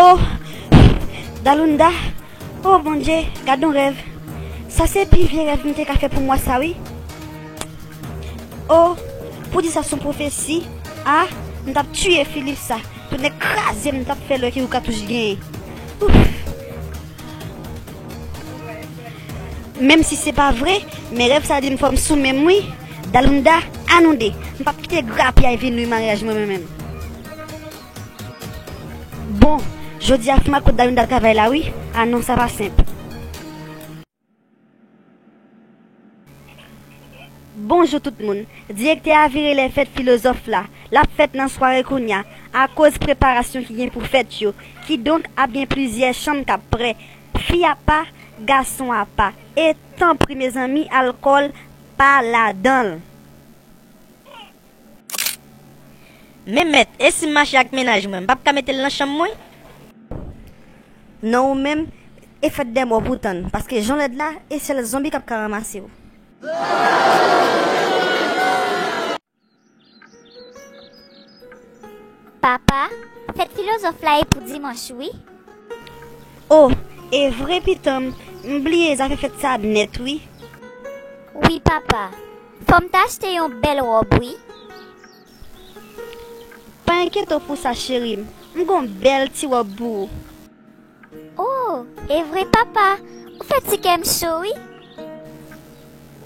Oh Dalunda oh bondye gad yon rèv sa se pi vye rèv m te ka fè pou mwa sa wi oh pou di sa son pwofesi ah m tap tiye Philippe sa tonè kraze m tap fè lè ki yon katouch genyen ouff. Menm si se pa vre, men rèv sa di m fò m sou menm wi. Dalunda, A nou de, m pap kite grapyay vin nwi maryaj mwen mwen menm. Bon, jodi a fè m ak ou Dalunda travay la wi. A non sa pa senp. Bonjou tout moun. Direktè a vire lè fèt filozòf la. L ap fèt nan sware kounya, akoz preparasyon ki gen pou fèt yo. Kidonk ap gen plizyè chanm k ap pre. Fi a pa, gason a pa. E, tanpri mezanmi, alkòl pa ladan l. Men mèt, e si m mache ak mennaj mwen, m p ap ka mete l nan chanm mwen? Non ou menm, e fèt dè mò pou w tann, paske jan w lèd la, e sèl zonbi k ap ka ranmase w. Papa, fèt filozòf la e pou dimanch wi. O, e vre pitanm, m bliye zafè fèt sa nèt wi. Wi papa. Fòm ta achte yon bèl ròb wi. Pa enkyete w pou sa cherim. M gon bèl ti ròb pou ou. Oh evre papa ou fè ti kèm cho wi.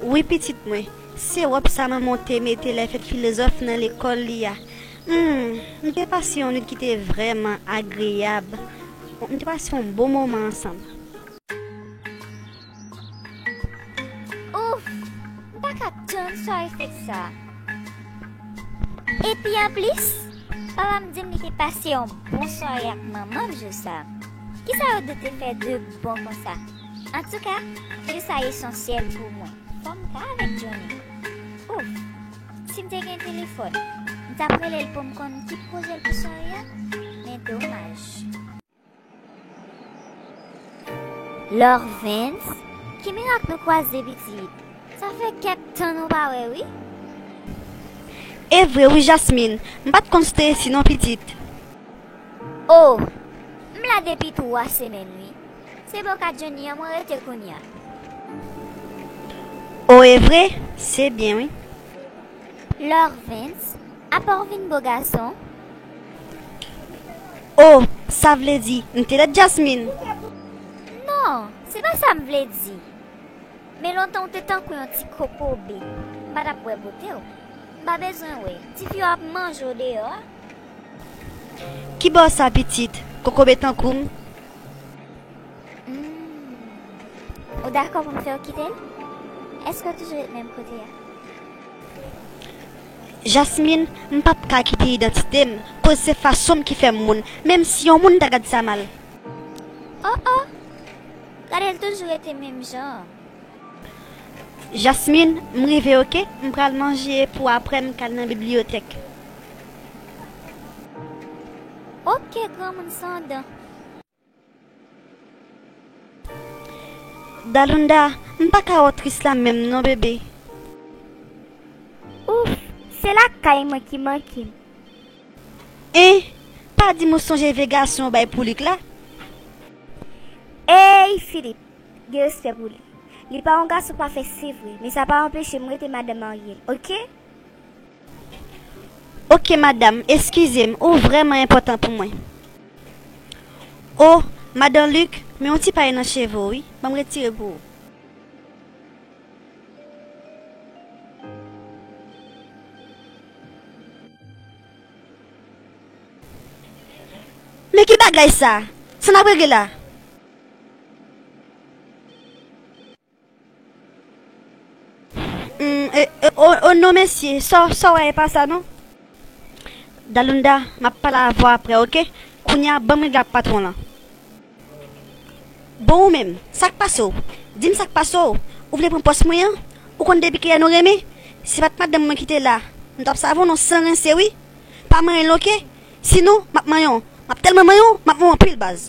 Wi pitit mwen, se ròb sa manman w te mete lè fèt filozòf nan lekòl li a. Humm nou te pase yon nwit ki te vrèman agreyab. Nou te pase yon bon moman ansanm. Ouff! M pa ka tann sware fèt sa. Epi anplis, papa m di m li te pase yon bon sware ak manman m jou sa. Kisa yo de te fè de bon konsa? Antouka, jou sa esansyèl pou mwen. Fò m ka avèk Johnny. Ouff! Si m te gen telefòn, m t ap rele l pou m konn ki pwojè l pou sware a, men domaj. Lorvens, ki mirak nou kwaze pitit? Sa fè kèk tan nou pa wè wi. Evre wi Jasmin, m pat konn si te resi non pitit. Oh, m la depi 3 semèn wi. Se bò ka Johnny an mwen rete kounya. Oh evre, se byen wi. Lorvens, Apa w vin bo gason? O! Sa vle di, m te lèd Jasmine? Non, se pa sa m vle di. Men lontan w te tankou yon ti kokobe. M pa t ap wè bote w. M pa bezwen wè. Tifi yo ap manje w deyò a. Ki bo sa pitit, kokobe tankou m? Hum. Ou dakò pou m fè w kite l? Èske w toujou ret menm kote a? Jasmine, m pap ka kite idantite m koz se fason m ki fè m moun menm si yon moun ta gad sa mal. Oh oh! Gade l toujou rete menm jan an. Jasmine, m rive ok, m pral manje pou aprè m k al nan bibliyotèk. Ok granmoun san dan. Dalunda, m pa ka wè w tris la menm non bebe. Ouff, se lakay mwen ki manke m. Hein, pa di m ou sonje vye gason ou bay pou Luc la? Eyy Philippe, gen respè pou li. Li pa yon gason pafè se vre, men sa pa anpeche m rete madan marye l ok. Ok madam eskize m ou vrèman enpòtan pou mwen Oh madan Luc men yon ti pay nan cheve w wi ban m retire pou ou. Men ki bagay sa! Sa n ap regle la? Oh non mesi sa w wè e pa sa non. Dalunda, m ap pale avè w aprè ok, kounye a ban m règle ak patwon lan. Bon ou menm, sa k pase w? Di m sa k pase w? Ou vle pran pòs mwen an? Ou konn depi kilè nou renmen? Se pa t madanm mwen ki te la, nou t ap save w non san rense wi. Pa manyen l ok, sinon m ap manyen w. M ap tèlman manyen w, m ap manyen w anpil baz.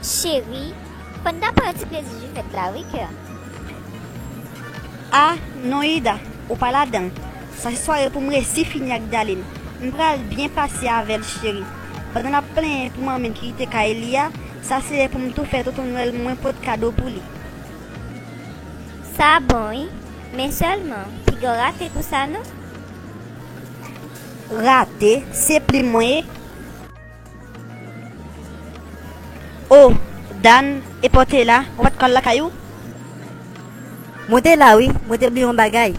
Cheri, panda pran yon ti plezi jou fèt la wi kèm. Ah non Ida, ou pa ladanl, sa se sware poum resi fini ak Daline, m pral byen pase avèl cheri, pandan lap plenyen pou manmil ki kite kay li a, sa se lè poum tou fè tonton nwèl mwen pot kado pou li. Sa bon wi, men sèlman, pigaw rate pou sa non. Rate? Se plim mwen ye? Oh Dan e paw te la, ou pat ka al lakay ou? Mwen te la wi, mwen te bliye yon bagay.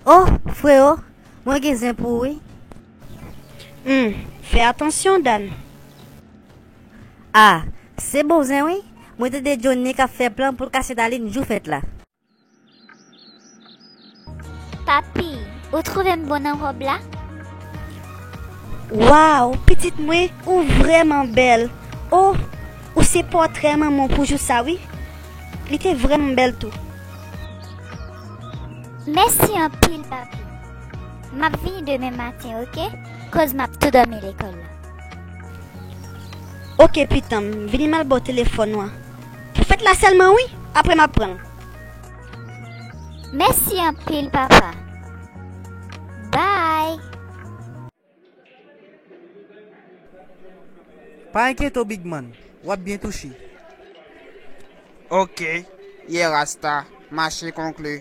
Oh freo, mwen gen zen pou ou wi. Humm, fè atansyon Dan. Ah, se bon zen wi, mwen tande Johnny kap fè plan poul kase Darline jou fèt la. Papi, ou trouve m bon nan rob la? Waw, pitit mwen, ou vrèman bèl. Oh, ou se pòtrè manman w pou jou sa wi. Li te vrèman bèl tou. Mèsi anpil, papi. M ap vini demen maten, oke, koz m ap tou dòmi lekòl la. Oke pitanm, vini m al ba w telefòn ou an. Fèt la sèlman wi aprè map pranl. Mèsi anpil papa bye. Pa enkyete w big man, wap byen touche. Ok ye rasta mache konklu.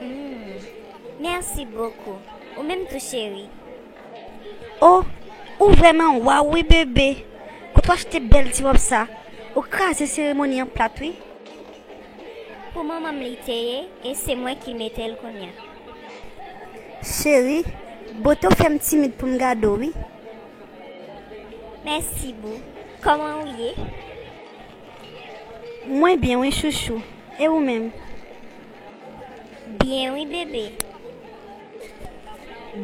Humm merci beaucoup ou menm tou cheri. Oh ou vreman waw wi bebe kote w achte bel ti rob sa ou kraze seremoni an plat wi. Pou manmanm li te ye e se mwen ki metel kounya. Cheri bote w fem timid poum gade w wi. Mèsi boo, kòman ou ye? Mwen byen wi chouchou e ou menm. Byen wi bebe.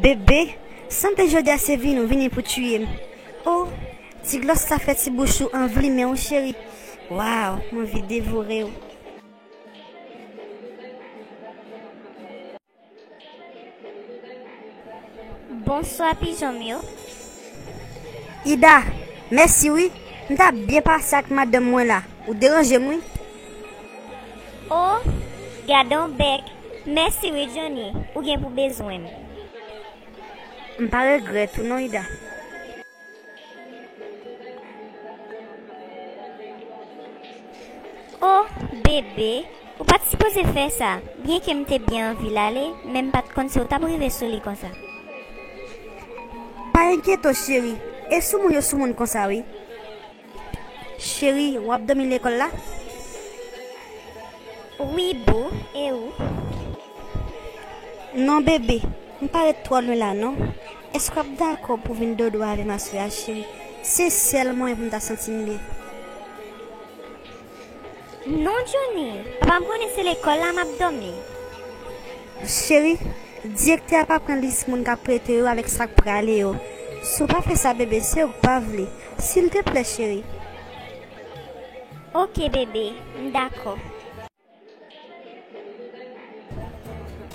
Bebe sanble jodia se vini ou vini pou tuyem oh ti glòs la fè ti bouch ou anvi limen wi cheri waw m anvi devorew. Bonswa pijon m yo. Ida, Mèsi wi, m t ap byen pase ak madanm mwen la. Ou deranje m wi. O, gadon bèk. Mèsi wi Johnny, ou gen pou bezwen m. M pa regrèt ou non Ida. Oh bebe ou pat sipoze fè sa byen ke m te byen anvi l ale men m pat konn si w tap rive sou li konsa. Pa enkyetew cheri e soumoun yo soumoun konsa wi. Cheri wap domi lekol la? Wi boo e ou? Non bebe m pa ret twò lwen la non. Eske wap dakò pou vin dodo avèm aswè a cheri se sèl mwayen poum ta santim byen. Non Johnny, papam konnen se lekòl la map dòmi. Cheri, direktè a pa pran lis moun kap prete yo avèk sak prale yo, si w pa fè sa bebe se ou k pa vle, silteplè cheri. Ok bebe, m dakò.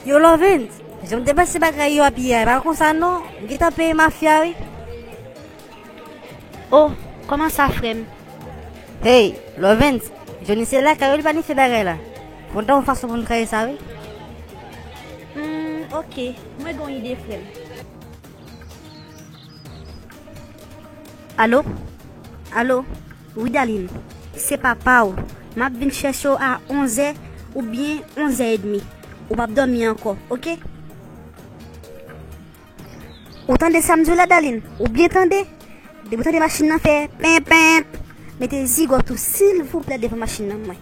Yo lovens, jan m te panse bagay yo ap ye a, e pa konsa non, m gentan peye mafya wi. Oh, kòman sa frè m? Hey, lovens, Joni se lakay ou li planife bagay la. Kontan yon fason pou nou kraze sa wi. Hum, ok, mwen gen yon ide frè m. Alo? Alo? Widaline, Se papa w. M ap vin chèche w a onzè oubyen onzè edmi. Ou pap dòmi ankò, oke? Ou tande sa m di w la, Daline? Ou byen tande? Depi w tande machin nan fè penpenp, mete zigòt ou silvouplè devan machin nan mwen.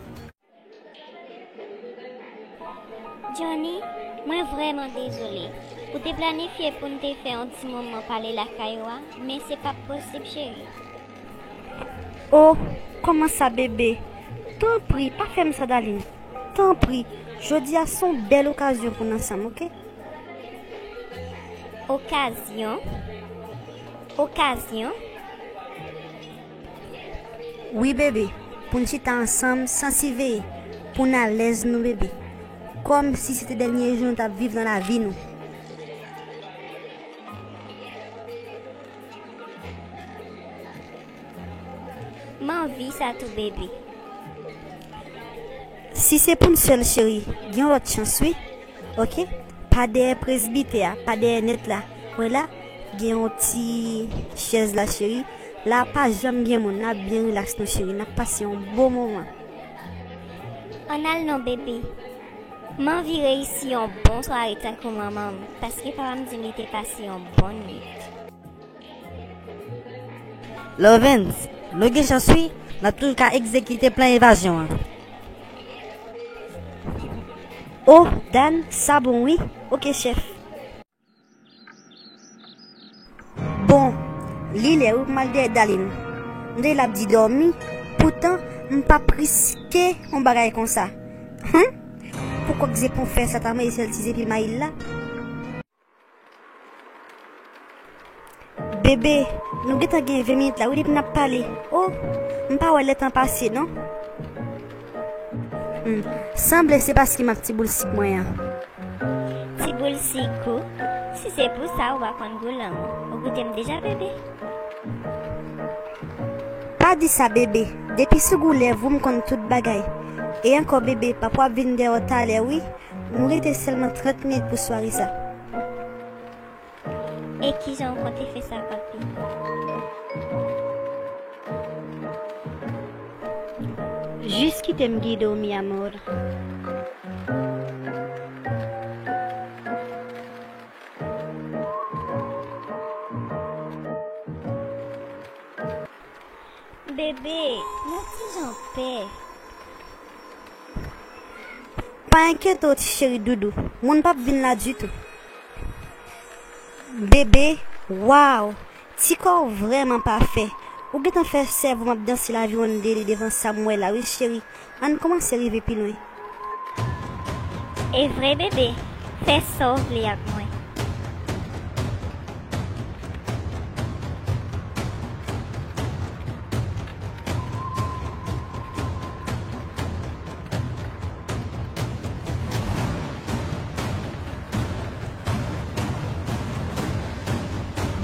Johnny, Mwen vrèman dezole. Ou te planifye pou n te fè yon ti moman pale lakay ou a, men se pap posib cheri. O, kòman sa bebe? Tanpri, pa fè m sa Dalin. Tanpri, jodi a se yon bèl okazyon pou n ansanm, oke? Okazyon? Okazyon? Wi bebe pou n chita ansanm san siveye pou n alèz nou bebe kòm si se te dènye jou nou tap viv nan lavi nou. M anvi sa tou bebe. Si se pou n sèl cheri gen yon lòt chans wi. Ok pa dèyè presbitè a pa dèyè nèt la wè la gen yon ti chèz la cheri la pa janm gen moun nap byen relax nou cheri nap pase yon bon moman. An al non bebe. M anvi reyisi yon bon sware tankou manman m paske papa m di m li te pase yon bon nwit. Lovens, Nou gen chans wi, n ap toujou ka egzekite plan evazyon an. O, Dan, sa bon wi. Ok, chèf. Bon, li lè wi pou m al dèyè Dalin. M tande l ap di dòmi, poutan m pa p riske yon bagay konsa. Hum! Pou kòk zepon fè sa ta mele sèl ti zepi Mayil la. Bebe, nou gentan gen 20 minit la wi depi nap pale. O, m pa wè lè tan pase non. Hum, sanble se paske m ak ti boul sik mwen an. Ti boul sik ou? Si se pou sa ou pa konn gou lanmou. Ou goute m deja bebe? Pa di sa bebe, depi sou gou lèv ou m konn tout bagay. E ankò bebe, papa w ap vin dèyè w talè wi, M rete selman 30 minit pou sware sa. E kijan ou konte fè sa papi? Jis kite m gide w mi amor. Bebe nan kijan pè. Pa enkyete w ti cheri doudou. Moun pap vin la ditou. Bebe waw ti kò w vrèman pafè. Ou gentan fè sèvo'm ap danse laviwonn de li devan sa'm wè la wi cheri. Ann kòmanse rive pi lwen. Evre bebe, fè sa w vle ak mwen.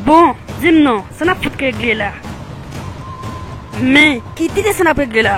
Bon, di m non, sa n ap fout regle la? Men, ki tire sa n ap regle la?